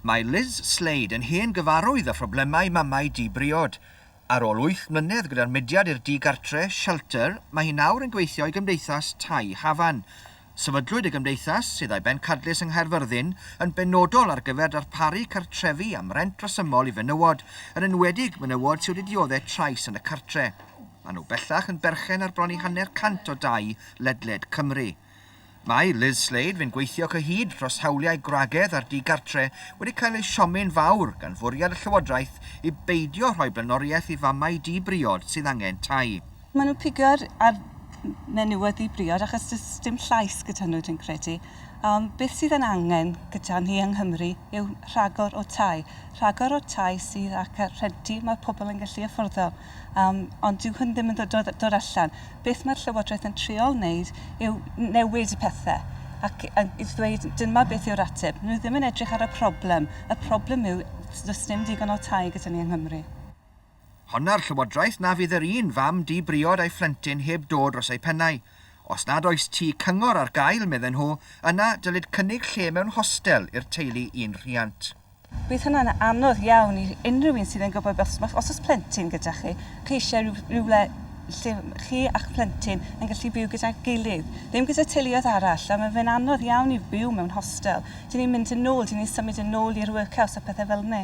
Mae Liz Slade yn hen gyfarwydd â phroblemau mamau di-briod. Ar ôl wyth mlynedd gyda'r mudiad i'r di-gartre, Shelter, mae hi nawr yn gweithio i Gymdeithas Tai Hafan. Sefydlwyd y gymdeithas, sydd â'i bencadlys yng Nghaerfyrddin, yn benodol ar gyfer darparu cartrefi am rent resymol i fenywod, yn enwedig menywod sydd wedi dioddef trais yn y cartre. Maen nhw bellach yn berchen ar bron i hanner cant o dai ledled Cymru. Mae Liz Slade fu'n gweithio cyhyd dros hawliau gwragedd a'r di-gartre wedi cael ei siomi'n fawr gan fwriad y Llywodraeth i beidio rhoi blaenoriaeth i famau di-briod sydd angen tai. Maen nhw'n pigo ar menywod di-briod achos does dim llais gyda nhw, dwi'n credu. Ond beth sydd yn angen gyda ni yng Nghymru yw rhagor o tai. Rhagor o tai sydd ac rhentu mae pobl yn gallu afforddo. Ond dyw hwn ddim yn dod allan. Beth mae'r Llywodraeth yn trial wneud yw newid y pethau ac i ddweud dyma beth yw'r ateb. Nhw ddim yn edrych ar y problem. Y problem yw does dim digon o tai gyda ni yng Nghymru. Honna'r Llywodraeth na fydd yr un fam di-briod a'i phlentyn heb do dros eu pennau. Os nad oes tŷ cyngor ar gael, medden nhw, yna dylid cynnig lle mewn hostel i'r teulu un rhiant. Bydd hynna'n anodd iawn i unrhyw un sydd yn gwybod os, os oes plentyn gyda chi, chi eisiau rhyw, rhywle lle chi a'ch plentyn yn gallu byw gyda'i gilydd, ddim gyda teuluoedd arall, a mae fe'n anodd iawn i byw mewn hostel. Dyn ni'n mynd yn ôl, dyn ni'n symud yn ôl i'r workhouse a pethau fel ni.